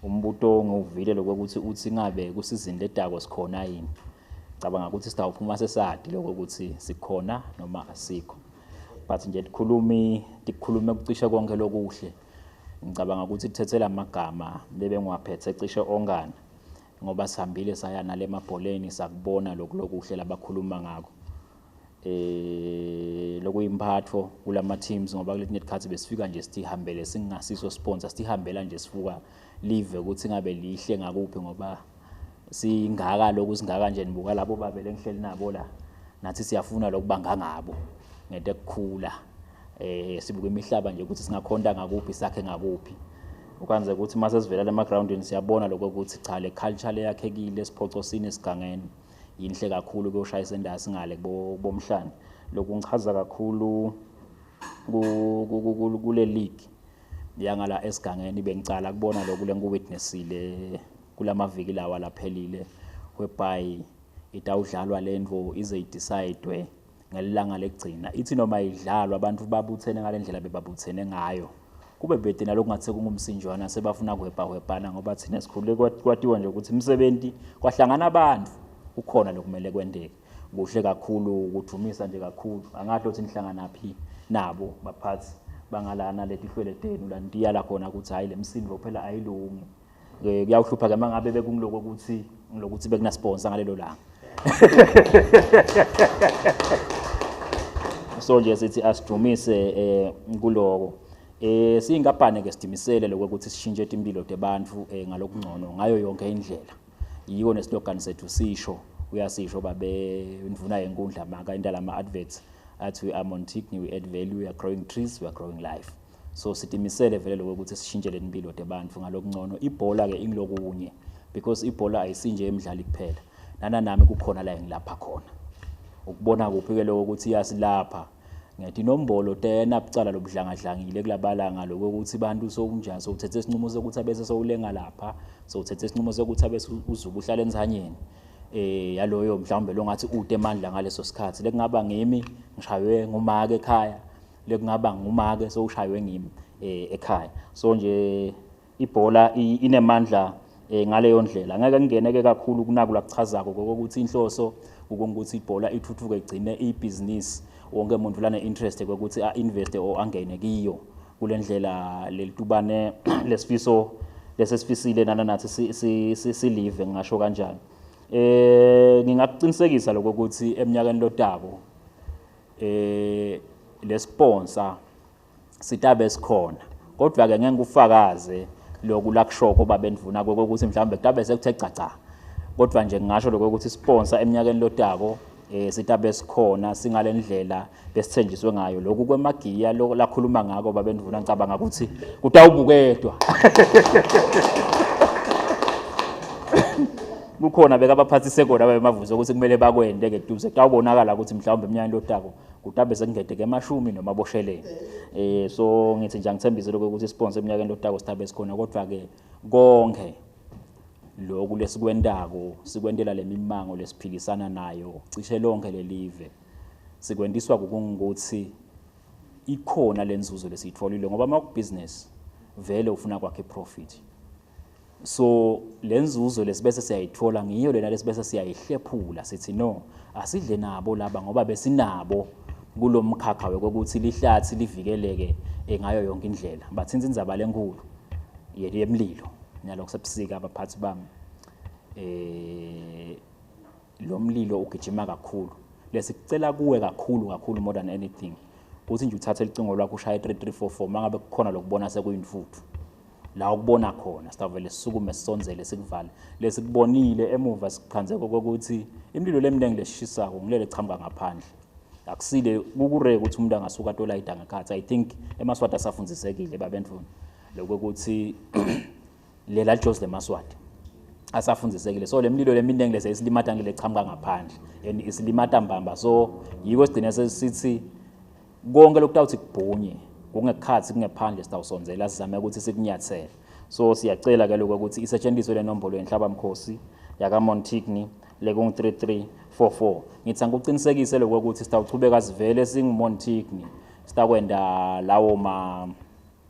umbuto ngiwuvile lokwekuthi uthi ngabe kusizini letako sikhona yini cabanga ukuthi sitawuphuma sesati loko ukuthi sikhona noma asikho but nje tikhulumi tikhulume kucishe konke lokuhle ngicabanga ukuthi kuthethela amagama lebengiwaphethe cishe ongana ngoba sihambile saya nalemabholeni sakubona lokulokuhle labakhuluma ngako eh lokuyimphatho kulama teams ngoba kuletinye isikhathi besifika nje sithihambele singasiso sponsor sithihambela nje sifuka live ukuthi ngabe lihle ngakuphi ngoba singaka lokhu singaka nje nibuka labo babele ngihleli nabo la nathi siyafuna lokubanga ngabo ngento ekukhula eh sibuka imihlaba nje ukuthi singakhonda ngakuphi sakhe ngakuphi ukwenze ukuthi uma sesivela lema groundini siyabona lokho ukuthi cha le culture leyakhekile siphoxosini esigangeni yinhle kakhulu ke ushayisa endasi ngale kubomhlane lokhu ngichaza kakhulu kule league yangala esigangeni bengicala kubona lokhu lengiwitnessile kulamaviki lawa laphelile whereby itawudlalwa lento ize idecide ngelilanga lekugcina ithi noma idlalwa abantu babuthene ngale ndlela bebabuthene ngayo kube bhede nalokhu ngathi sekungumsinjwana sebafuna kuhwebhahwebhana ngoba thina sikhulule kwatiwa nje ukuthi umsebenzi kwahlangana abantu kukhona lokumele kwenteke kuhle kakhulu ukudumisa nje kakhulu angathi othi nihlangana phi nabo baphathi bangalana letihlwele tenu la nitiyala khona ukuthi hhayi le msindo phela ayilungi Eh, kuyawuhlupha ke mangabe bekungiloko ukuthi ngilokuthi bekunasponsor ngalelo langa so nje sithi asidumise eh kuloko eh siyinkampani ke sidimisele lokho ukuthi sishintshe impilo tebantu eh ngalokungcono ngayo yonke indlela yiko neslogan sethu sisho uyasisho babe indvuna yenkundla maka indala ama adverts athi we are Montigny we add value we are growing trees we are growing life so sitimisele vele lokho ukuthi sishintshele impilo tebantfu ngalokungcono ibhola ke ingilokunye because ibhola ayisinje emidlali kuphela nana nami kukhona la engilapha khona ukubona kuphi ke lokho ukuthi iyasilapha ngiyathi inombolo tena bucala lobudlangadlangile kulabalanga lokho ukuthi abantu sokunjani sokuthethe isinqumo sokuthi abese sowulenga lapha sokuthethe isinqumo sokuthi abese uzuba uhlala ensanyeni eh yaloyo mhlawumbe longathi ude emandla ngaleso sikhathi lekungaba ngimi ngishaywe ngumake ekhaya lekungaba ngumake sowushaywe ngimi um eh, ekhaya so nje ibhola inemandla um ngaleyo ndlela angeke ngingeneke kakhulu kunaku lakuchazako kokokuthi inhloso ukuthi ibhola ithuthuke igcine ibhizinisi wonke muntu lane-interest kokuthi a-investe or angene kiyo kule ndlela lelitubane lesifiso lesesifisile nana nathi silive ngingasho kanjani um ngingakuqinisekisa lokho ukuthi eminyakeni lotako eh lesponsa sitabe sikhona kodwa ke ngeke ufakaze lokhu lakushoko baba endvuna kokuthi mhlawumbe kutabe sekuthe gcagca kodwa nje ngingasho lokho ukuthi sponsor eminyakeni lotako eh sitabe sikhona singalendlela besithenjiswe ngayo lokhu kwemagiya lokho lakhuluma ngako baba endvuna ngicabanga ukuthi kutawubuketwa kukhona bekabaphathise kona ababemavuze ukuthi kumele bakwende-ke duze kutawubonakala ukuthi mhlawumbe emnyakeni lotako kutabe sekungedeke emashumi noma abosheleni um so ngithi nje angithembise lokho ukuthi isiponso emnyakeni lotako sithabe sikhona kodwa-ke konke loku lesikwentako sikwentela le mimango lesiphikisana nayo cishe lonke lelive sikwentiswa kukungukuthi ikhona le nzuzo lesiyitfolile ngoba uma kubhizinisi vele ufuna kwakhe iprofit so le nzuzo lesibese siyayithola ngiyo lena lesibese siyayihlephula sithi no asidle nabo laba ngoba besinabo kulo mkhakha wekokuthi lihlathi livikeleke eh, ngayo yonke indlela bathinta indzaba lenkulu yemlilo nalokho sebusika abaphathi bami eh lo mlilo ugijima kakhulu lesicela kuwe kakhulu kakhulu more than anything ukuthi nje uthathe licingo lwakho ushaye 3344 mangabe kukhona lokubona sekuyintfuthu la ukubona khona sitavele sisukume sisonzele sikuvale lesikubonile emuva sikuphanzeko kokuthi imlilo leminingi lesishisako ngilele chamuka ngaphandle akusile kukureke ukuthi umuntu angasuka tolayida ngekhathi i think emaswati asafunzisekile babendvuna lokuthi lela Jose Maswati asafundisekile so lemlilo leminingi lese isilimata ngile qhamuka ngaphandle and isilimata mbamba so yiko sigcine sesithi konke lokutawuthi kubhunye kungekhathi kungephandle sitawusonzela sizame ukuthi sikunyathele so siyacela ke lokho ukuthi isetshenziswe le nombolo yenhlaba mkhosi yaka Montigny lekungu 3344 ngithi angikuqinisekise lokho ukuthi sitawuchubeka sivele singu Montigny sitakwenda lawo ma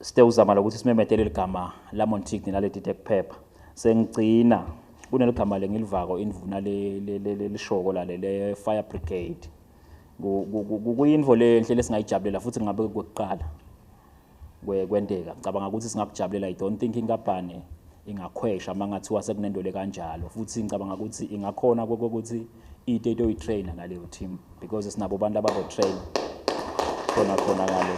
sithe uzama lokuthi simemethele ligama la Montigny la ledite kuphepha sengigcina kuneligama lengilivako indvuna lelishoko la le fire brigade kuyinvo lenhle lesingayijabulela futhi ngabe kwekuqala kwenteka ngicabanga ukuthi singakujabulela i don't think inkampani ingakhwesha uma ngathiwa sekunento le kanjalo futhi ngicabanga ukuthi ingakhona kokuthi ite itoyitraina ngaleyo team because sinabo abantu abazotraina khona khona ngale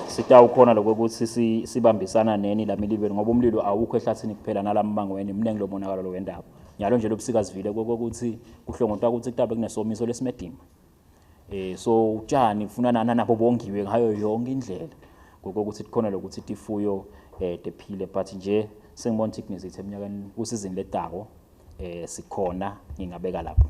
sitawukhona lokho ukuthi sibambisana neni la milibeli ngoba umlilo awukho ehlathini kuphela nalamangweni mningi lo monakalo lo wendaba njalo nje lobusika sivile kokuthi kuhlongotwa ukuthi kutabe kunesomiso lesimedima eh so utshani kufuna nana nabo bongiwe ngayo yonke indlela ngokokuthi kukhona lokuthi tifuyo eh tephile but nje sengibona ukuthi kunezithe eminyakeni kusizini letako eh sikhona ngingabeka lapho